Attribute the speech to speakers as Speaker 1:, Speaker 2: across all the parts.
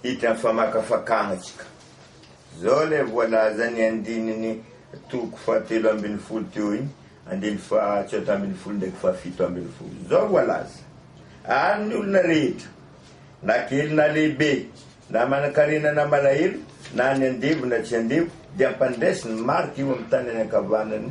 Speaker 1: Hita ny famakafakana tsika. Zao ilay voalazan'ny andininy toko fahatelo ambin'ny folo teo iny, andininy fahatsôta ambin'ny folo ndraiky fahafito ambin'ny folo. Zao voalaza, Ary ny olona rehetra, na kely na lehibe, na manankarena na malahelo, na ny andevo na tsy andevo, dia hampandresy ny marika eo amin'ny tanany ankavanany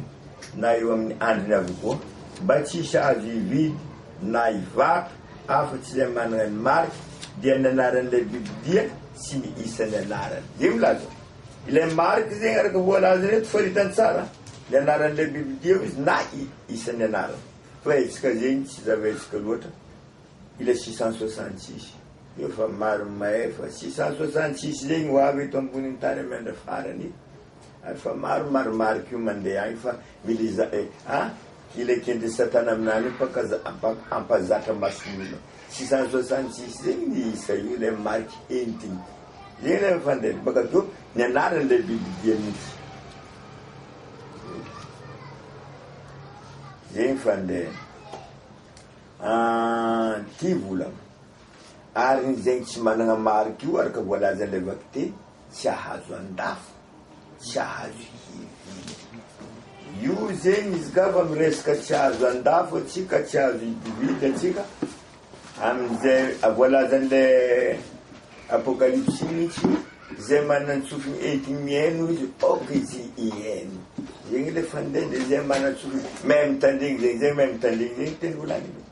Speaker 1: na eo amin'ny andriny avokoa, mba tsy hisy azo hividy na i Vato, afa-tsy ilay manana ny marika, dia ny anaran'ilay biby dia tsy ny isan'ny anarany. Dia milaza hoe, Ilay marika zegny araka voalaza eto fa ritany tsara, ny anaran'ilay biby dia hoy izy na i isan'ny anarany. Fa hetsika zegny tsy zava-hetsika loatra ilay six cent soixante six. Efa maro mahay fa six cent soixante six zegny ho avy eto ambonin'ny tany amin'ny andra farany e. Ary fa maro marimarika io mandeha agny fa mila iza eh a! Ilay kendry satana aminany io mpaka ampazatra mason'olo tsisy azo asany tsisy zegny ny isa io ilay mariky entigny zegny le mifandendry baka to ny anarany le bibidia mintsy zegny fandehany ah, ty volagna ary ny zegny tsy managna mariky io araka voalazan'ilay vakiteny Tsy ahazo andafy, tsy ahazo hividy. Io zegny izy ka fa miresaka tsy ahazo andafy antsika, tsy ahazo hidividy antsika, amin'izay voalazan'le Apokalypsy mihitsy, izay manan-tsofina entigny mihaino izy aoka izy hihaino. Zegny le fandendry, izay manan-tsofina mahay mitandregny zegny, zay mahay mitandregny zegny teny volagniny.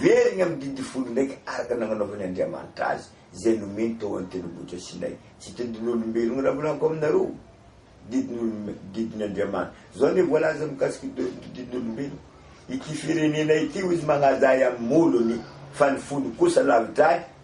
Speaker 1: Very ny amin'ny didy folo ndraika araka ny nagnanaovany Andriamanitra azy, izay nomeny tao an-tendrombohitra Sinay. Tsy tendin'olombelogna raha volagniko aminareo didin'olom didin' Andriamanitra. Zao anie voalaza mikasika i Doly toy didin'olombelogna, Ity firenena ity, hoy izy, magnaja ahy amin'ny molony, fa ny fony kosa lavitra ahy,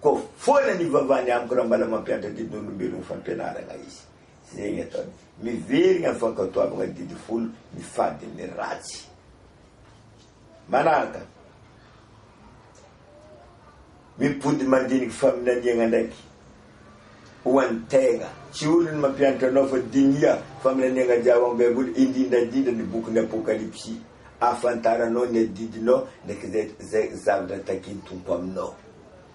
Speaker 1: Koa foana ny ivavahany amiko raha mbola mampiantra didin'olombelona ho fampianarana izy. Izay ny ataony. Miverina amin'ny fankatoavana ny didy folo mifady amin'ny ratsy. Manaraka, mipody mandiniky faminaniana ndraiky ho an'ny tegna. Tsy olony mampiantra anao fa dinia faminaniana jiaby amin'ny Baiboly, indrindra indrindra ny bokin'ny Apokalypsy. ahafantaranao ny adidinao ndraiky zay zay zavatra takin'ny Tompo aminao.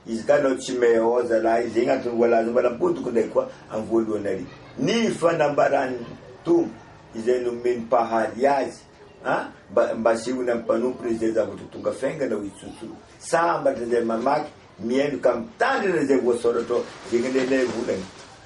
Speaker 1: Izy ka anao tsy meo zalahy, zegny antony voalaza mbala am-podiko ndraiky koa am voalohany ary, ny fanambaran'ny Tompo izay nomen'ny Mpahary azy an, mba mba asehony am mpanompony izay zavatra ho tonga faingana ho itsotsoro. Sambatra zay mamaky, mihaino ka mitandrina zay voasoratra ao zegny anie lay volany.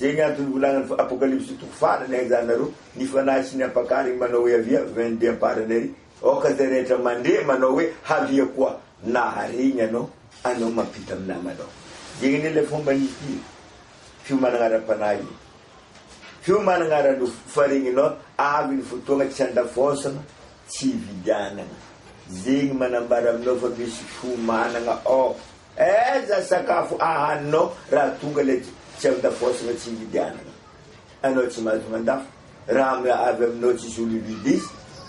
Speaker 1: Zay ny antony volagnin'ny Apokalypsy toko farany Aizanareo ny fanahy sy ny ampakariny manao hoe Avia, vin dia amparany ary aoka zay rehetra mandre manao hoe Havia koa na haregny anao anao mampita amin'ny namanao Zay anie ilay fomban'ity fiomanagna ara-panahy io Fiomanagna ara-nofo fa regninao avy ny fotoagna tsy andafôsagna tsy ividianagna Zegny manambara aminao fa misy fiomanagna ao Aiza sakafo ahaninao raha tonga ilay tsy avy tafaosana tsy hividy hanina anao tsy mahazo mandafo raha avy aminao tsisy olo hividy izy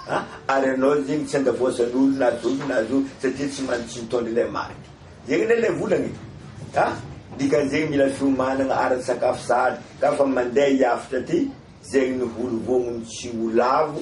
Speaker 1: a ary anao zegny tsy andafoasanolo na zovy na zovy satria tsy man tsy mitondra ilay marika zegny anie ilay volagna e a dikanzegny mila fiomanagna ara tsakafo sahady ka fa mandeha hiafotra aty zegny ny holo vogno ny tsy ho lavo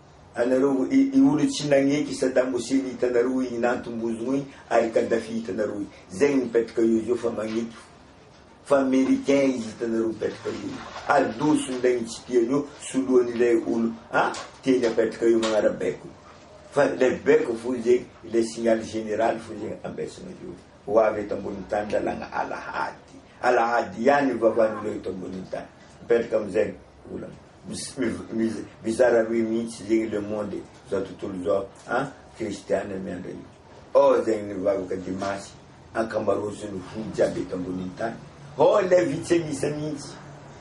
Speaker 1: Anareo i olo tsy nagneky Sadam Hussein hitanareo igny na antombozogno igny ary Kadhafi hitanareo igny zegny mipetraka eo izy eo fa magneky fo fa americain izy hitanareo mipetraka eo igny ary doso ndray igny tsy tiany eo soloany ilay olo a tiany apetraka eo magnarabaiko fa le baiko fo zegny ilay signal general fo zegny ambesagna eo ho avy eto ambony tany lalagna alahady alahady ihany ny vavan'olo eto ambony tany mipetraka amizay olana. Mizara roe mihitsy zegny le monde e, zao tontolo zao a, kristiana miandra io ô zegny nivavaka dimasy ankamarozony fo jiaby eto ambonin'ny tany ô le vitsy an'isa mihitsy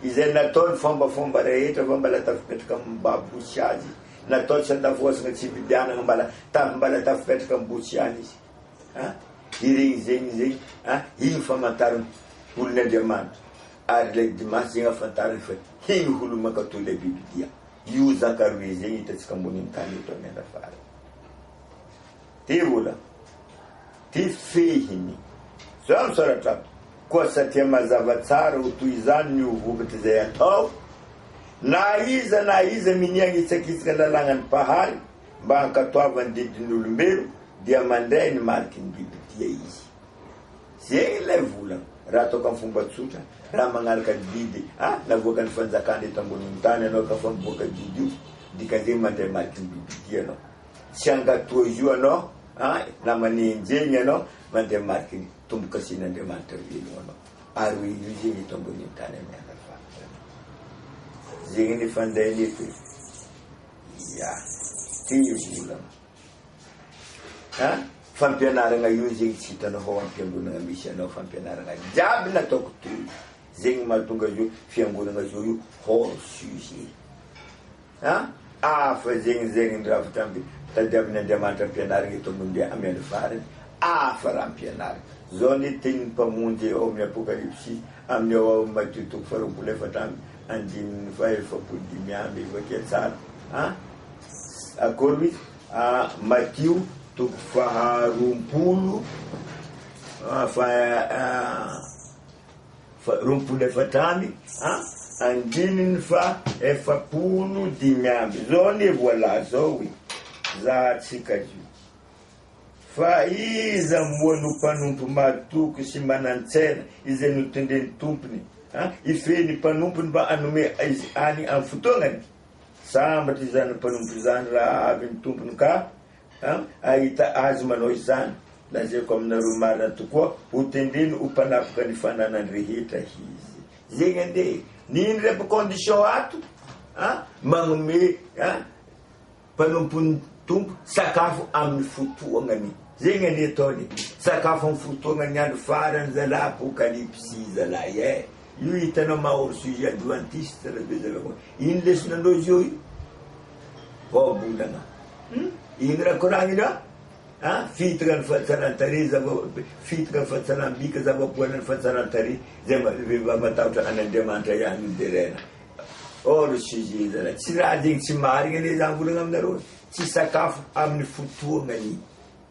Speaker 1: izay natao ny fombafomba rehetra fa mbala tafipetraka amin'ny maha bosy azy natao tsy andafohasina tsy vidianagna mbala taf mbala tafipetraka amin'ny bosy ihany izy a iregny zegny zegny a igny famantarana olon'Andriamanitra ary le dimasy zegny afantarany fa Hino ho lomakatò ilay biby dia io zakaroy izay no hitantsika ambonin'ny tany eto amin'ny andra farany. Dia vola. Dia fehiny. Zao no soratra ato. Koa satria mazava tsara ho toy izany ny ho vokatr'izay atao, na iza na iza minia hanitsakitsaka ny lalangan'ny Mpahary mba hankatoavany didin'ny olombelo dia mandray ny mariky ny bibidia izy. Zegny ilay vola raha ataoko amin'ny fomba tsotra, raha magnaraka didy a navoakan'ny fanjakana eto ambonin'ny tany anao ka fa mivoaka didy io dikan'izegny mandray mariky ny bibidia anao, tsy hangato azy io anao a na manenjegny anao mandray mariky ny tombokasen'Andriamanitra velogno anao ary hoe io zegny eto ambonin'ny tany amin'ny andafahatra anao zegny ny fandainy eto e, ia ty vola. Ha? Fampianaragna io zegny tsy hitanao fa ho am fiangonagna misy anao fampianaragna jiaby nataoko teo zegny mahatonga azy hoe fiangonagna zao io hors sujet ha afa zegny zegny ny raha vita amby tadiaviny Andriamanitra ampianarigny eto ambonin'ny amy andro farany afa raha ampianarigny zao ny tenin'ny mpamonjy ao amin'ny apokalypsy amin'ny ao ao Matio toko faharoapolo efatra amby andininy fahaefapolo dimy amby efa kia tsara ha Akory madio toko faharoapolo roapolo efatra amby a, andininy faha efapolo dimy amby, zao anie voalaza zao hoe zahantsika io. Fa iza moa no mpanompo mahatoky sy manan-tsaina izay notendren'ny Tompony a, hifehy ny mpanompony mba hanome azy any amin'ny fotoanany? Sambatra izany mpanompo izany raha avy ny Tompony ka hahita azy manao izany. Lazaiko aminareo marina tokoa, ho tendreny ho mpanapoka ny fananany rehetra izy. Zegny ande ny indreby condition ato an, magnome an mpanompon'ny Tompo sakafo amin'ny fotoagnany. Zegny anie ataony, sakafo amin'ny fotoagnany andro farany zalahy apocalypse zalahy eh. Io hitanao maha hors sujet adventiste rabezaka koa iny lesona ndreo zio io vahabolana hum iny raha koragny ra a fitaka ny fahatsaran-tarehy zava fitaka ny fahatsaram-bika zava-poana ny fahatsaran-tarehy zay rehefa matahotra an'Andriamanitra ihany no deraina hors sujet zala tsy raha zegny tsy marigny anie zany volagna aminareo tsy sakafo amin'ny fotoagnany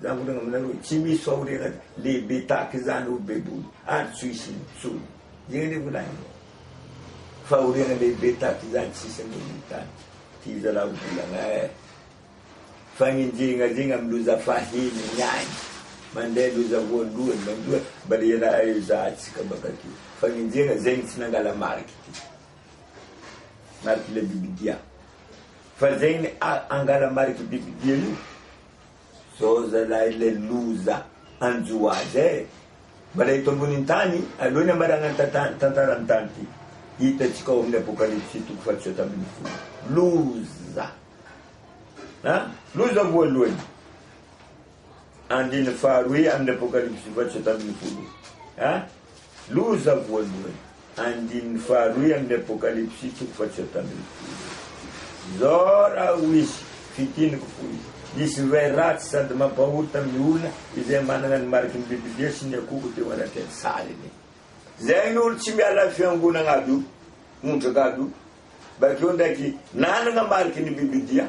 Speaker 1: Miangona aminareo, tsy misy fahoriana lehibe tahaka izany ho beboly ary tsy ho hisy intsony. Inona anie volany? Fahoriana lehibe tahaka izany tsy hisy ambony ny tany. Ty zalahy volana eh! Fagnenjehina zegny amin'ny loza fahiny ny any, mandeha loza voalohany mandoa mbala i raha ezahantsika bak'aty. Fagnenjehina zegny tsy nangala mariky ty, mariky le bibidia, fa zegny a, angala mariky bibidia io. Zao zalahy le loza hanjo azy eh! Mbola eto ambonin'ny tany aloha ny hamaranan'ny tantara tantaran'ny tany ty hitantsika ao amin'ny apokalypsy toko fahatotra hatra ambin'ny folo. Loza a! Loza voalohany andininy faharoe amin'ny apokalypsy fahatotra hatra ambin'ny folo a! Loza voalohany, andininy faharoy amin'ny Apokalypsy toko fahatsiato ambin'ny folo. Izao raha hoy izy, Fitiniko fo izy. Nisy divay ratsy sady mampahory tamin'ny olona izay manana ny mariky ny Biblia sy ny akohoko teo anatrehan'ny sariny. Izay ny olona tsy miala amin'ny fiangonana aby io, ondraka aby io. Bakeo ndraiky nanana mariky ny Biblia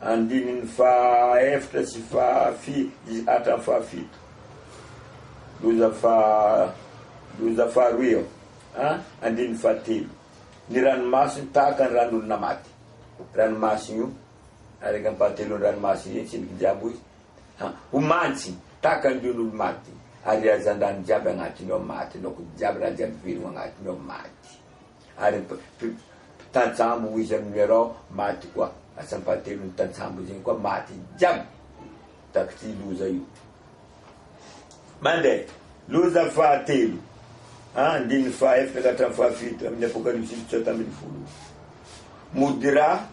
Speaker 1: andininy fahaeftra sy fahafito hatramin'ny fahafito. Loza faha, loza faharoa eo an, andininy fahatelo. Ny ranomasony tahaka ny ran'olona maty. Ranomasony io, araka ny mpahatelon'ny ranomasony io, tsindriky ny diabo izy. Ha, ho mantsy tahaka ny lion' olo-maty, ary hazan-drano jiaby agnatiny ao maty, laoky jiaby, raha jiaby velogno agnatiny ao maty. ary mpitajambo hoy izy amin'ny nuerao maty koa asany fahatelo ny mpitajambo zegny koa maty jiaby takty loza io mande loza fahatelo a andininy fahaefatra ka hatramin'ny fahafito amin'ny apokalypsy fitsota ambin'ny folo mody ra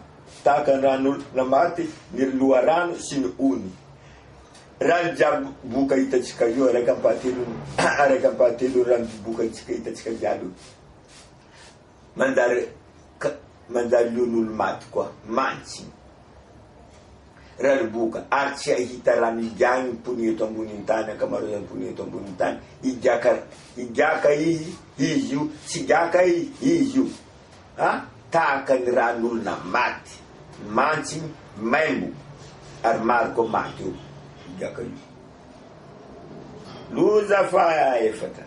Speaker 1: tahaka ny ran'olona maty ny loharano sy ny ony raha ny jiaby boka hitantsika io araka ampahatelony araka ampahatelony raha ny boka tsika hitantsika jiaby io Manjary ka manjary lion'olo-maty koa mantsy ny rariboka ary tsy hahita rano higiahy ny mponina eto ambonin'ny tany, ankamaroazan'ny mponina eto ambonin'ny tany. Higiaka higiaka izy izy io, tsy higiaka izy izy io. Ha? Tahaka ny ran'olona maty mantsy ny maimbo ary maro koa maty eo higiaka io. Loza fahaefatra.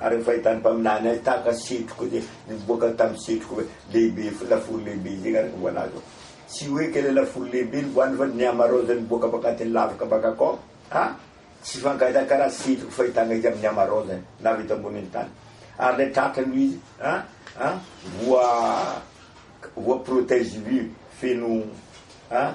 Speaker 1: Ary ny fahitan'ny mpaminany ahy tahaka setroka izay nivoaka tamin'ny setroka lehibe, lafaoro lehibe izay araka ny voalaza ao. Tsy hoe ilay lafaoro lehibe no voalaza fa ny amarôza nivoaka avy anatin'ny lavaka mpankakô. Ha! tsy hifankahita karaha setroka fahitana izy amin'ny amarôzany na avy eto ambonin'ny tany. Ary ilay tratra no izy, ha! ha! voa, voa protège-vue feno, ha!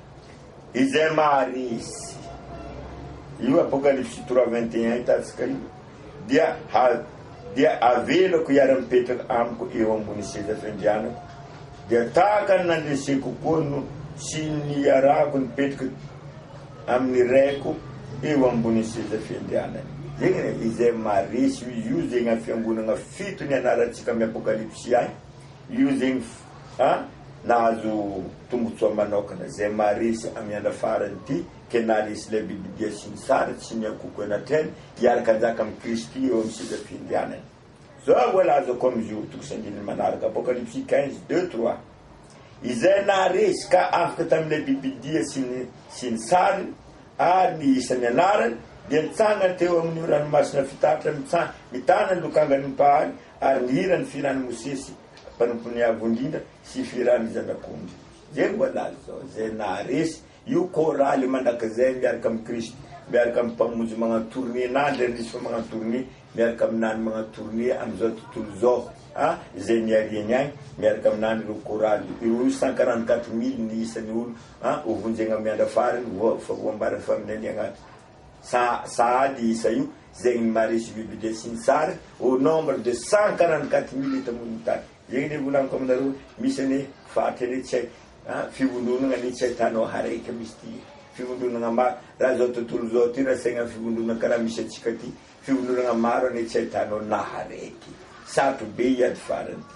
Speaker 1: izay maharesy io Apokalypsy trois vingt et un hitantsika io dia ha dia avelako hiara-mipetraka amiko eo ambony seza fiandrianako dia tahaka ny nandreseko koa no sy niarahako nipetraka amin'ny raiko eo ambony seza fiandrianany zegny izay maharesy io zegny fiangonagna fito ny anarantsika amin'ny Apokalypsy any io zegny a nahazo tombotsoa manaokana zay maharesy ami andra farany ty ke naharesy ilay bibidia sy ny sary sy ny ankoko eny atrehany hiaraka hanjaka am Kristy eo am seza fiandrianany zao mbola azoko am jour tokos andininy manaraka apocalypsy quinze deux trois izay naharesy ka afaka tam ilay bibidia sy ny sy ny sary ary ny isan ny anarany dia nitsangana teo amin io ranomasina fitaratra mitsa mitana ny lokangan ny Mpahary ary nihira ny fihiran Mosesy mpanompony avo indrindra sy Firany Zanak'ondry izay mbola lany izao izay naharesy io chorale mandrakizay miaraka amin'i Kristy miaraka amin'ny Mpamonjy magnano tournée na Andry Andrisoa magnano tournée miaraka amin'i Nany magnano tournée amin'izao tontolo izao a izay niariany ahy miaraka amin'i Nany ireo chorale ireo io sankaran'ny quatre mille ny isan'ny olo a ho vonjegna miandra farany voa fa voambarany faminaniagna Sa sahady isa io zegny ny maha résumé budget sy ny sary au nombre de cent quarante quatre mille eto ambonin'ny tany. Zegny anie volagniko aminareo hoe misy anie faty anie tsy hay a fivondronagna anie tsy ahitanao hareka misy ty fivondronagna maro raha zao tontolo zao ty raha saigna fivondronagna karaha misy antsika ty fivondronagna maro anie tsy ahitanao na haraiky. Sarotro be hiady farany ty.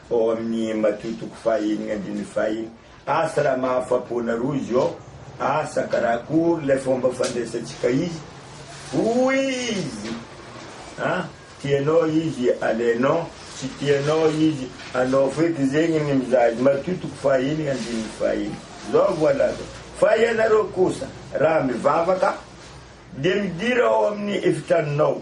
Speaker 1: ao amin'ny Matio toko faha enigna andininy faha enina. Asa raha mahafapo anareo izy ô! Asa karakory ilay fomba fandraisantsika izy? Hoy izy, A! tianao izy, alainao, tsy tianao izy, anao feky zegny ny mizaha azy. Matio toko faha enigna andininy faha enina. Zao voalaza, Fa ianareo kosa, raha mivavaka, dia midira ao amin'ny efitranonao,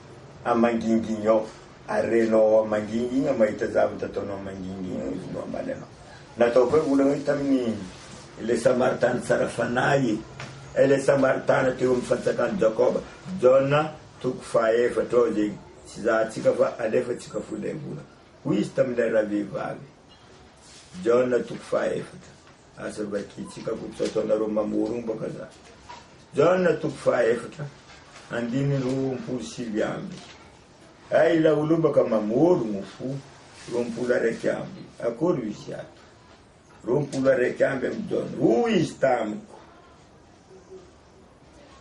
Speaker 1: A mangingigny ao ary renao ao mangingigny ao mahita zavatra ataonao mangingigny ao izy no hamaly anao. Natao koa ny olana hoe tamin'ny ilay Samaritana tsara fanahy e. Ilay Samaritana teo amin'ny fantsakan'i Jakoba, Jaona toko fahaefatra ao izay tsy izahantsika fa alefantsika fo ilay volana. Hoy izy tamin'ilay ravehivavy, Jaona toko fahaefatra. Aza mba tiantsika koa tsy ataonareo mamorombaka za. Jaona toko faha efatra andininy roampolo sivy amby Hay ilay olobaka mamorogno fo roampolo araiky amby Akory io izy ato roampolo araiky amby amin'i Jaona Hoy izy tamiko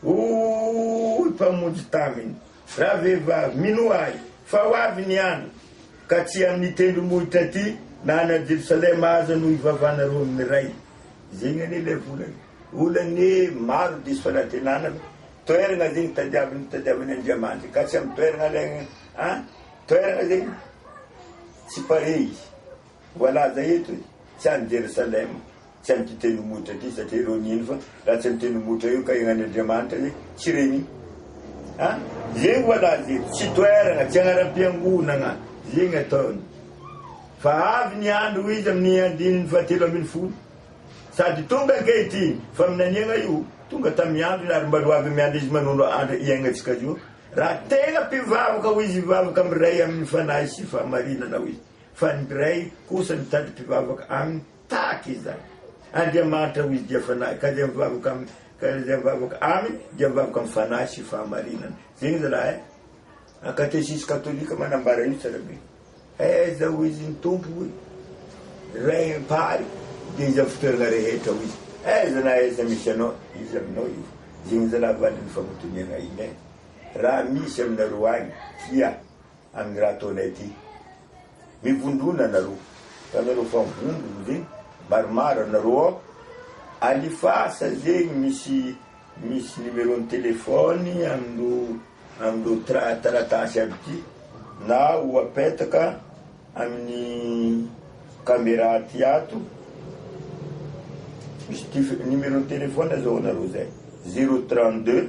Speaker 1: Hoy Mpamonjy taminy, Ravehivavy, minoa Ahy, fa ho avy ny andro, ka tsy amin'ny tendrombohitra aty na any Jerosalema aza no hivavahanareo amin'ny Ray. Izay ny anie ilay volana. Olany maro diso fanantenana fa toerana zegny tadiaviny tadiaviny Andriamanitra ka tsy am toerana lay an toerana zegny tsy pare izy voalaza eto e tsy any Jerosalema. Tsy amin'ity tendrombohitra ity satria ireo nino fa raha tsy amin'ity tendrombohitra io ka egnan'ny Andriamanitra zay tsy reny a zegny voilà ze tsy toeragna tsy agnaram-piangonagna zegny ataony fa avy ny andro izy amin'ny andininy fahatelo ambin'ny folo sady tonga ankehitriny faminaniagna io tonga tamin'ny androny ary mba roavy amin'ny andro izy manondro andro iaignatsika zao raha tegna mpivavaka ho izy hivavaka amin'ny ray amin'ny fanahy sy fahamarinana ho izy fa ny ray kosa mitady mpivavaka aminy Tahaka izany. Andriamanitra ho izy dia Fanahy, ka izay mivavaka Aminy, ka izay mivavaka Aminy dia mivavaka amin'ny Fanahy sy fahamarinana. Zay izy raha eh! A katesisy katolika manambara io tsara be. Aiza ho izy ny Tompo hoy? Ray Mpahary dia izy amin'ny fitoerana rehetra ho izy. Aiza na aiza misy anao, izy aminao io. Zay izy raha vady ny fagnotoniana ahiana eh! Raha misy aminareo any, fia! Amin'ny raha ataonay ity. Mivondrona nareo fa nareo fa vondrona ve maromaro nareo ao? Alifasa zegny misy misy numéro ny téléphone amin'ireo amin'ireo tra taratasy aby ity na ho apetaka amin'ny camera aty ato misy tif- numéro ny téléphone zao anareo zay zero trente deux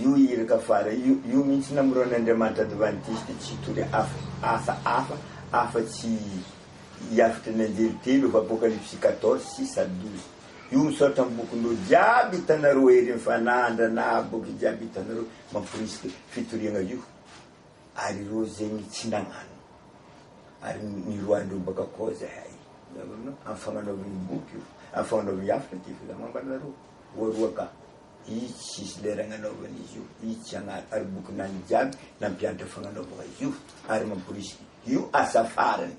Speaker 1: Io iraka fara io, io mihitsy namorona Andriamanitra Advantista tsy hitory asa hafa afa-tsy hiafotra ny anjely telo of Apocalypse quatorze, six à douze. Io misaotra ny bokin'ireo jiaby hitanareo Hery ny Fanahy Andranaa boky jiaby hitanareo mamporisika fitoriagna io ary ireo zegny tsy nagnano ary niroahandreo baka koa zahay amin'ny fagnanaovagna io boky io, amin'ny fagnanaovagna hafatra ty fa za mambara anareo, voaroa ka. Itsy sisy lera agnanaovana izy io, itsy agnaty ary bokin'agny jiaby nampianatra fagnanaovagna izy io ary mamporisika io asa farany.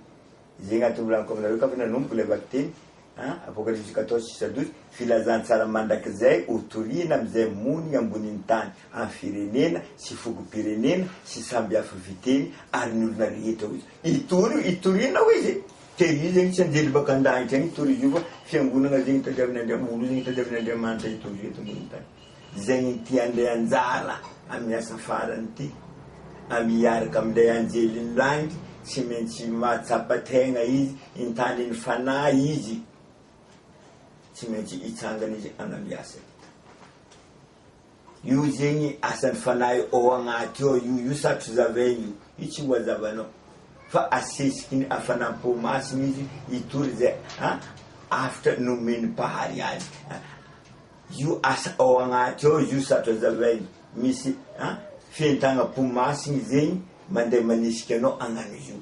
Speaker 1: Ze agnatin'ny volaniko aminareo ka fa nanomboka le vakiteny a, Apokalypsy quatorze six à douze, Filazantsara mandrakizay ho torina amizay monigny ambonin'ny tany, amy firenena sy fokom-pirenena sy samby hafa fiteny ary ny olona rehetra ozy. Hitory hitoriana hoy izy dia io zegny tsy anjely baka an-danitra agny hitory izy io fa fiangonagna zegny tadiavin'Andriamanitra olo zegny tadiavin'Andriamanitra hitory eto ambony tany zegny ty handray anjara amin'ny asa farany ty amy hiaraka am'ilay anjelin'ny lagnitry tsy maintsy mahatsapa tegna izy hintandry ny fanahy izy tsy maintsy hitsangana izy hanao ny asany. Io zegny asan'ny fanahy ao agnaty ao io, io satry zavaigny io, io tsy ho azavanao fa asesiky ny hafanam-po masina izy hitory izay hafatra nomen'ny Mpahary azy. Io asa ao agnaty ao izy io satry azavaigny, misy fientagnam-po masigny zegny mandeha manisika anao hagnano io.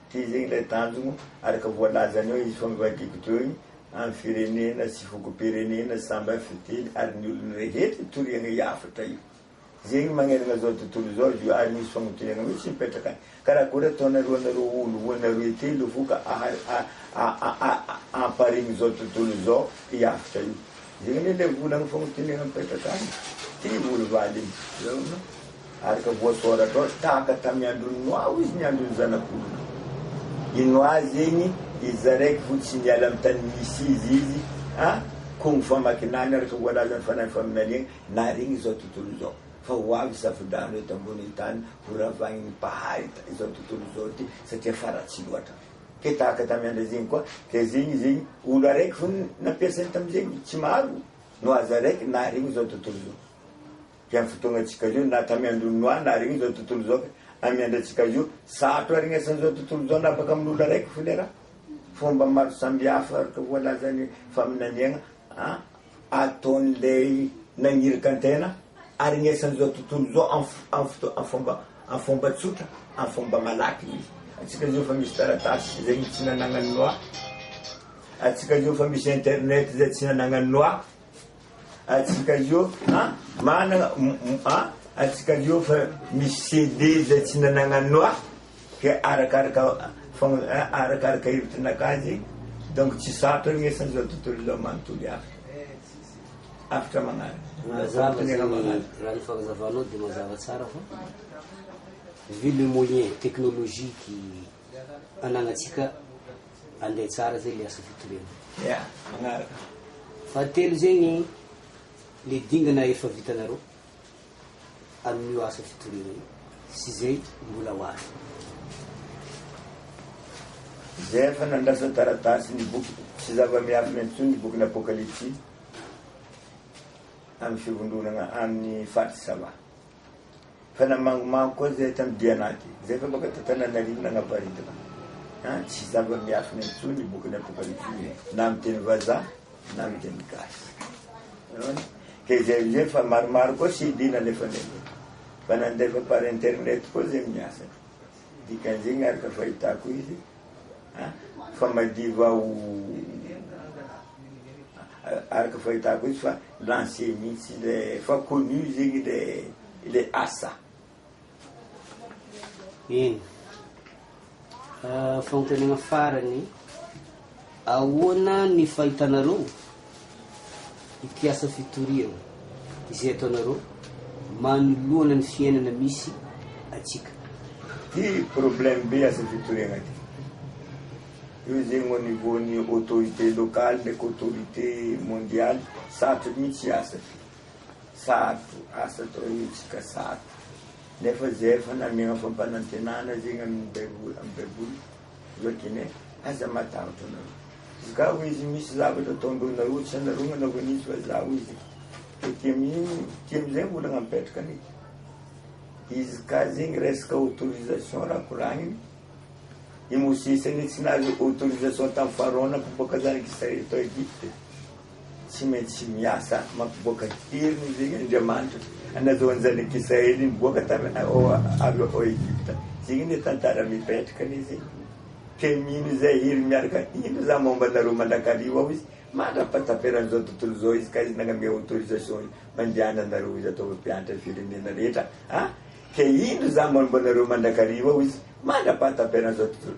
Speaker 1: Dia izay ilay tanjona, araka voalazany eo, hihasoan'ny Roakibo Joy amin'ny firenena sy fokom-pirenena samy amin'ny fiteny ary ny olony rehetra itoriana io hafatra io. Izay no manerana izao tontolo izao izy io ary misy famotorana mihitsy mipetraka any. Ka raha koa rataonareo anareo olo roa na roe telo vo ka amparimin'izao tontolo izao io hafatra io. Iny ilay volan'ny famotonena mipetraka any, ty Olovaly iny. Laona ary ka voasoratra ao, tahaka tamin'ny andron'i Noa hozy ny andron'ny zanak'olona. I Noa zegny iza raiky fo tsy niala amin'ny tany nisy izy izy, a koa gny famakinany araka voalazan'ny Fanahin'ny Faminaniagna, naharegny izao tontolo izao. Fa ho avy safo-drano eto ambonin'ny tany, ho ravaignin'ny Mpahary izao tontolo izao ty, satria faratsy loatra. Ke tahaka tamin'ny andro izegny koa, ke zegny zegny olo araiky fôgna nampiasainy tamin'izegny, tsy maro no aza araiky naharegny izao tontolo izao. Ke amin'ny fotoagnantsika zao na tamin'ny andron'i Noa naharegny izao tontolo izao, ke amin'ny andratsika zao sarotro aharegny asan'izao tontolo izao na baka amin'olo araiky fô le raha. Fômba maro sambihafa araka voalazan'ny faminaniagna an! ataon'ilay nagniraka ny tena aregnesan'izao tontolo izao amin'ny fomba tsotra, amin'ny fomba malaky izy. Antsika izao efa misy taratasy izay tsy nanagnan'i Noa, antsika izao efa misy internet izay tsy nanagnan'i Noa, antsika izao an, manana an, antsika izao efa misy CD izay tsy nanagnan'i Noa. Ke arakaraka arakaraka hevitry nakazy donc tsy sarotra ny esa zao tontolo zao manontolo hafatra hafatra magnaraka Mazava zany raha ny fagnazavanao de mazava tsara fa vu le moyen technologique anagnatsika ande tsara zay le asa fitoriana. Ya, magnaraka. Fahatelo zegny le dingana efa vitanareo. amin'io asa fitoriana io sy izay mbola ho avy. Izay efa nandrasa taratasy ny boky sy zava-miafina intsony ny bokin'ny Apokalypsy amin'ny fivondronana amin'ny faritra Sava. Fa namangomango koa izay tam'dia anaty, izay efa baka ta Tananarivo nagnaparitaka. An, tsy zava-miafina intsony ny bokin'ny Apokalypsy io e, na amin'ny teny vazaha. Na ny teny gasy. Hitanao? Dia izay amin'izay fa maromaro koa CD nalefany aloha. Fa nandefa par internet koa izay miasa. Dikan'izegny araka fahitako izy a, fa madiva ho araka fahitako izy fa lancé mihitsy ilay fa connu zegny ilay ilay asa. Eny. Fanontaniana farany, ahoana ny fahitanareo ity asa fitoriana izay ataonareo manoloana ny fiainana misy antsika? Ty problème be asa fitoriana ty. Io zegny au niveau ny autorité locale ndraiky autorité mondiale, sarotra mihitsy hiasa. Sarotra, asa atao hetsika sarotra, nefa zay efa namegna fampanantenana zegny amin'ny baiboly, amin'ny baiboly vakine aza matahotra nareo, izy ka hoy izy misy zavatra ataondreo nareo tsy anareo nanaovany izy fa za hoy izy, aty amin'igny, aty amizay olagna mipetraka ny izy ka zegny resaka autorisation raha koragniny, i Mosesy anie tsy nahazo autorisation tamin'ny Pharaon mpamboaka zanak'Israely tao Egypte, Tsy maintsy miasa mampivoaka heriny izay Andriamanitra anazahoan' ny Zanak' Israely nivoaka tavy avy ao Egypta. Zegny anie tantara mipetraka anie zegny. Ke mino izay hery miaraka indro za maomba anareo mandrakariva ao izy mandra-pahataperan' izao tontolo izao izy ka izy nagname autorisation mandehana anareo izy ataovy mpiantra ny firenena rehetra a! Ke indro za maomba anareo mandrakariva ao izy mandra-pahataperan' izao tontolo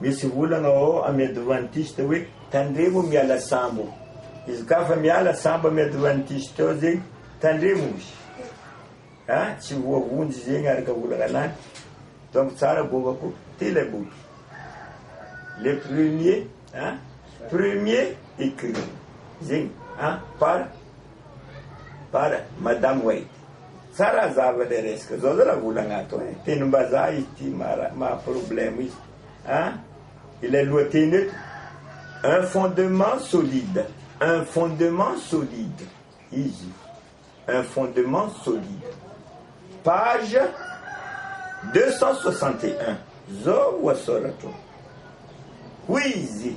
Speaker 1: Misy olana ao am adventiste hoe tandremo miala sambo. Izy ka fa miala sambo am adventiste ao zegny tandremo izy. Ha tsy voavonjy zegny araka olana anany. Donc tsara goavako ty ilay boky. Le premier ha premier écrit zegny ha par par madame White. Tsara ny zava le resaka zao zay raha olagna ato e tenim-bazaha izy ty maha problème izy a ilay lohateny eto un fondement solide un fondement solide izy un fondement solide page deux cent soixante et un zao ohasoratro hoy izy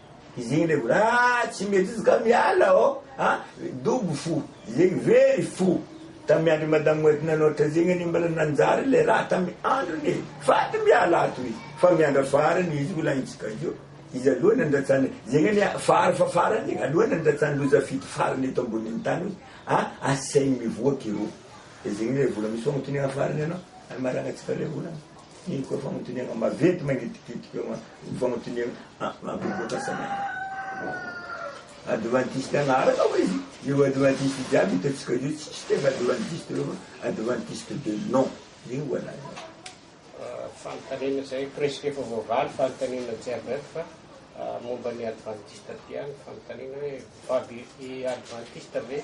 Speaker 1: Izegny le vola ah tsy mety izy ka miala ô a dobo fo zegny very fo tamy andro madame wet nanao trazegny anie mbola nanjary le raha tamy androny e fady miala ato izy fa miandra farany izy volagnitsika io izy aloha nandratsany zegny anie fary fa farany zegny aloha nandratsany loza fito farany eto amboniny tany hoe a asainy mivoaka ireo de zegny le vola misy fagnotoniana farany anao amaragnatsika le vola. Iny koa fagnotoniagna maventy magnitikitika eo an, fagnotoniagna mampivoatra fanahy. Adventiste agnarana oe izy, io adventiste jiaby hitantsika io tsisy tegna adventiste eo fa adventiste de nom zegny voalaza. Fanontaniana zay presque efa voavaly fanontaniana jiaby ato fa momba ny adventiste aty ihany fanontaniana hoe baby i adventiste ve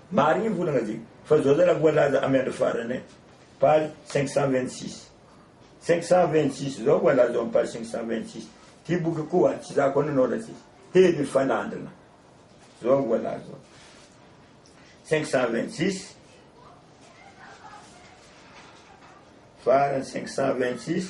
Speaker 1: Marigny ny volagna ty fa zao zalahy voalaza amy andro farany eh page cinq cent vingt six cinq cent vingt six zao voalaza ao amy page cinq cent vingt six ty boky koa tsy za koa nanoratra izy teny mifanandrina zao voalaza ao cinq cent vingt six farany cinq cent vingt six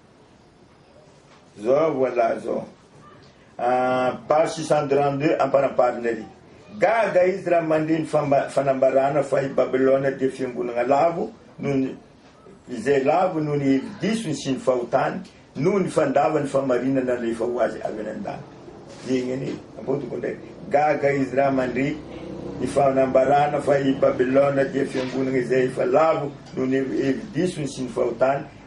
Speaker 1: Zao voilà zao. Ah, page 632 ampanaparina ery. Gaga izy raha mandre ny fanambarana fa i Babylona dia fiangonana lavo noho ny izay lavo noho ny hevi-disony sy ny fahotany noho ny fandavany famarinana alefa ho azy avy any an-danitra. Zegny anie, ampodiko ndray. Gaga izy raha mandre ny fanambarana fa i Babylona dia fiangonana izay efa lavo noho ny hevi-disony sy ny fahotany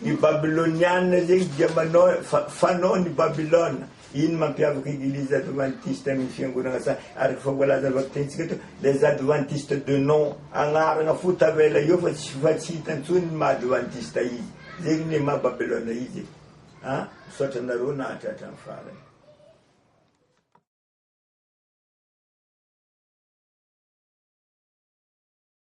Speaker 1: Ny Babyloniana zegny dia manao fa fanao ny Babylona. Ino mampiavaka Eglizy Advantiste amin' ny Fiangonana sahy? Araka fa voalaza vakitentsika teo, les Adventistes de nom, agnaragna fo tavela eo fa tsy fa tsy hita ntsony ny maha Advantista izy. Zegny ne maha Babylona izy e. A! Misaotra anareo nahatratra ny farany.